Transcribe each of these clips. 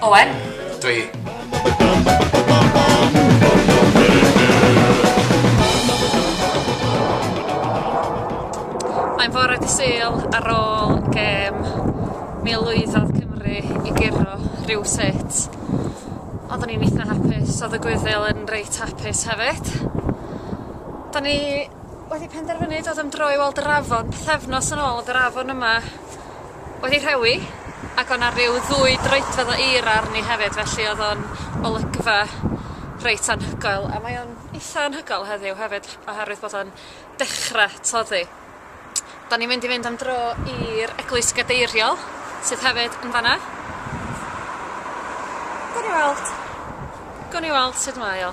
Owen. Dwi. Mae'n fore di syl ar ôl gem mil lwyddodd Cymru i gyrro rhyw sut. Oedden ni'n eitha hapus, oedd y gwyddil yn reit hapus hefyd. Da ni wedi penderfynu dod am dro i weld yr afon, pethefnos yn ôl oedd yr afon yma wedi rhewi ac o' 'na ryw ddwy droedfedd o eira arni hefyd felly odd o'n olygfa reit anhygoel a mae o'n itha anhygoel heddiw hefyd oherwydd bod o'n dechra toddi. 'Dan ni mynd i fynd am dro i'r Eglwys Gadeiriol sydd hefyd yn fan 'na. Gawn ni weld. Gawn ni weld sud mae o.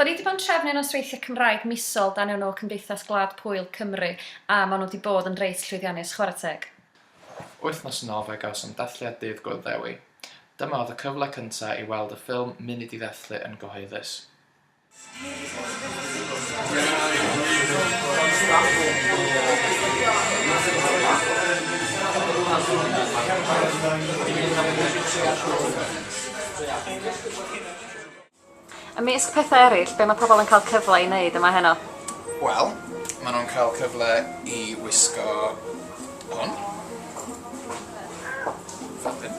Da ni 'di bod yn trefnu nosweithiau Cymraeg misol dan enw Cymdeithas Gwlad Pwyl Cymru a maen nhw 'di bod yn reit llwyddiannus, chwarae teg. Wythnos yn ôl fe gawsom dathliad Dydd Gŵyl Ddewi. Dyma oedd y cyfle cyntaf i weld y ffilm Munud i Ddathlu yn gyhoeddus. Ymysg pethau eraill, be mae pobl yn cael cyfle i wneud yma heno? Wel, maen nhw'n cael cyfle i wisgo hwn. Fel hyn.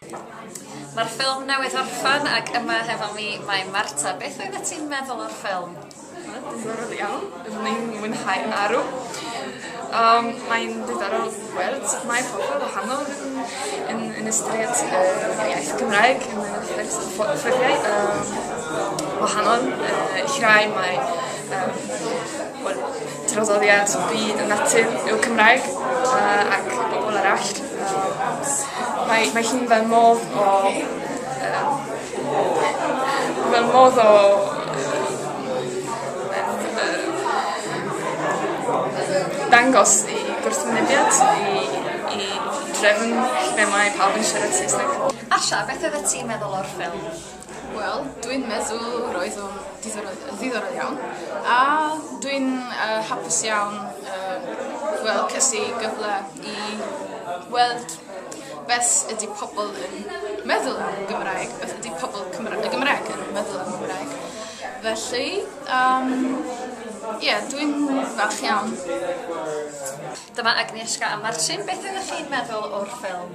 Mae'r ffilm newydd orffen ac yma hefo fi mae Marta. Beth oeddet ti'n meddwl o'r ffilm? Wel diddorol iawn. Byddwn i'n mwynhau marw. Yym mae'n diddorol gweld sut mae pobol wahanol yn yn yn ystyried yr iaith Gymraeg yn y ffyrdd ffo- ffyrddiau yym wahanol yy ill rai mae yym Wel, traddodiad byd a natur yw Cymraeg a ac pobol arall yym mae mae hi'n fel modd o yym fel modd o yym dangos i gwrthwynebiad i i drefn lle mae pawb yn siarad Saesneg. Asha, beth oeddet ti'n meddwl o'r ffilm? Wel, dwi'n meddwl roedd o'n ddiddorol iawn, a dwi'n uh, hapus iawn uh, wel, cysi gyfle i weld beth ydy pobl yn meddwl am Gymraeg, beth ydy pobl Cymra y Gymraeg yn meddwl am Gymraeg. Felly, um, yeah, dwi'n falch iawn. Dyma Agnieszka a Marcin, beth ydych chi'n meddwl o'r ffilm?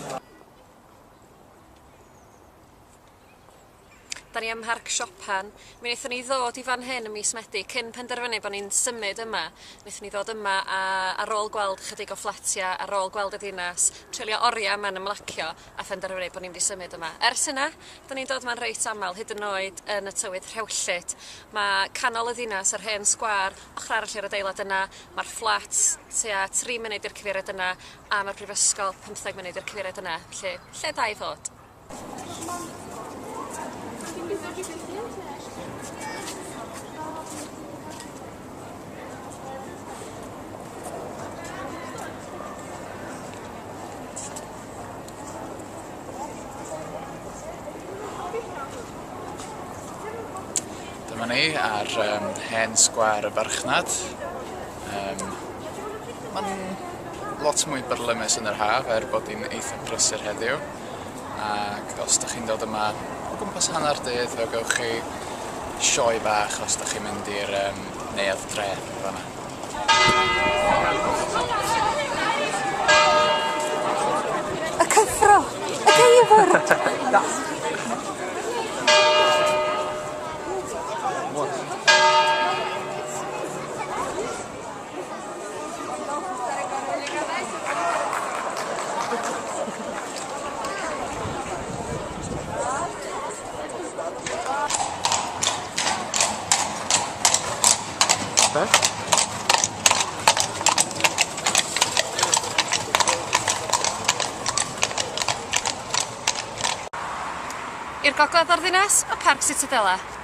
Da ni ym Mharc Siopan. Mi wnaethon ni ddod i fan hyn ym mis Medi cyn penderfynu bod ni'n symud yma. Wnaethon ni ddod yma a ar ôl gweld chydig o fflatia, ar ôl gweld y dinas, treulio oriau yma'n ymlacio a phenderfynu bod ni'n mynd i symud yma. Ers hynna, da ni'n dod yma'n reit aml, hyd yn oed yn y tywydd rhewllyd. Mae canol y ddinas, yr hen sgwâr, ochr arall i'r adeilad yna, mae'r fflats tua tri munud i'r cyfeiriad yna, A ma'r brifysgol pymtheg munud i'r cyfeiriad yna felly lle da i fod. Dyma ni ar yym hen sgwâr y farchnad. Yym, ma'n lot mwy byrlymus yn yr haf er bod 'i'n eitha brysur heddiw, ac os 'dych chi'n dod yma o gwmpas hanner dydd fe gewch chi sioe bach os 'dych chi'n mynd i'r yym neuadd drên yn fan 'na. Y cyffro! Y geifr! I'r gogledd o'r ddinas, y Parc Sitadela.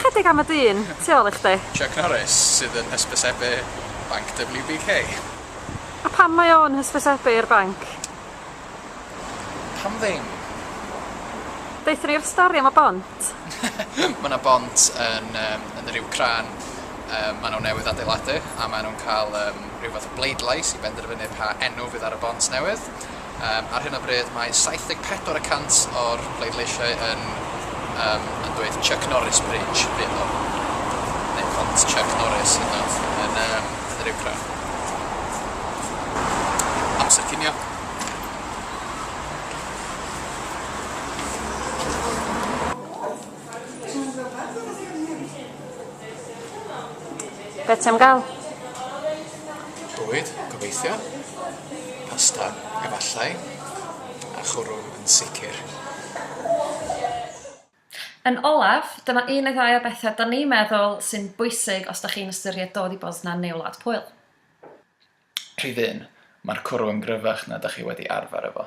Ychydig am y dyn tu ôl i chdi. Chuck Norris, sydd yn hysbysebu banc WBK. A pam mae o'n hysbysebu i'r banc? Pam ddim? Deutha ni'r stori am y bont. Mae 'na bont yn yym yn yr Iwcrain yy ma' nhw newydd adeiladu a ma' nhw'n cael yym rhyw fath o bleidlais i benderfynu pa enw fydd ar y bont newydd. Ar hyn o bryd mae 74 y cant o'r pleidleisiau yn yn dweud Chuck Norris Bridge fydd o, neu Pont Chuck Norris hyd yn oed, yn yn yr uwchradd. Amser cinio. Be ti am gael? Bwyd, gobeithio. Pasta, efallai. A chwrw, yn sicr. Yn olaf, dyma un neu ddau o bethau 'da ni'n meddwl sy'n bwysig os 'da chi'n ystyried dod i Bosnia neu Wlad Pwyl. Rhif un, Mae'r cwrw yn gryfach na 'da chi wedi arfer efo.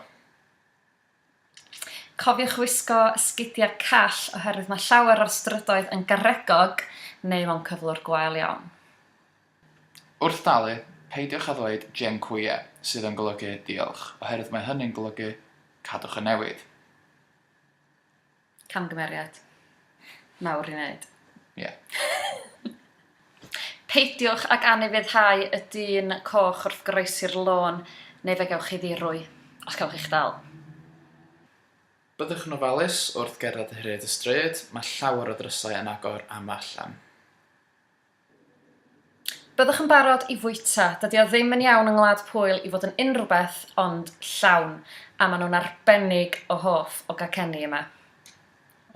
Cofiwch wisgo sgidiau call oherwydd mae llawer o'r strydoedd yn garegog neu mewn cyflwr gwael iawn. Wrth dalu, peidiwch â ddweud 'Dziękuję', sydd yn golygu 'Diolch', oherwydd mae hynny'n golygu 'Cadwch y newid'. Camgymeriad mawr i wneud. Ie. Peidiwch ag anufuddhau y dyn coch wrth groesi'r lôn, neu fe gewch chi ddirwy, os cewch eich dal. Byddwch yn ofalus wrth gerdded hyd y stryd, mae llawer o ddrysau yn agor am allan. Byddwch yn barod i fwyta. Dydi o ddim yn iawn yng Ngwlad Pwyl i fod yn unrhywbeth ond llawn, a maen nhw'n arbennig o hoff o gacenni yma.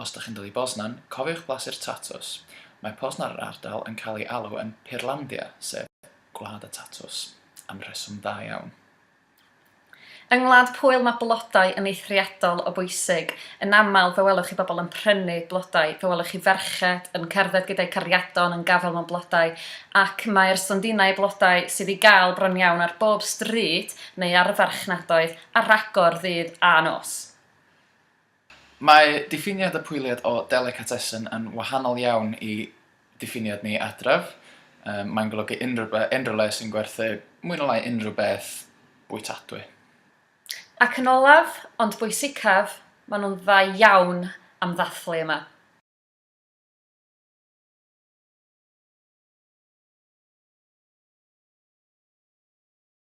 Os dych chi'n dod i Bosnan, cofiwch blasu'r tatws. Mae Poznan yr ardal yn cael ei alw yn Pyrlandia, sef Gwlad y Tatws, am reswm dda iawn. Yng Ngwlad Pwyl mae blodau yn eithriadol o bwysig. Yn aml, fe welwch chi bobl yn prynu blodau, fe welwch chi ferched yn cerdded gyda'u cariadon yn gafael mewn blodau, ac mae'r stondinau blodau sydd i gael bron iawn ar bob stryd neu ar y farchnadoedd ar agor ddydd a nos. Mae diffiniad y pwyliad o delicatessen yn wahanol iawn i diffiniad ni adref. Mae'n golygu unrhyw le sy'n gwerthu mwy na lai unrhyw beth bwytadwy. Ac yn olaf, ond bwysicaf, maen nhw'n dda iawn am ddathlu yma.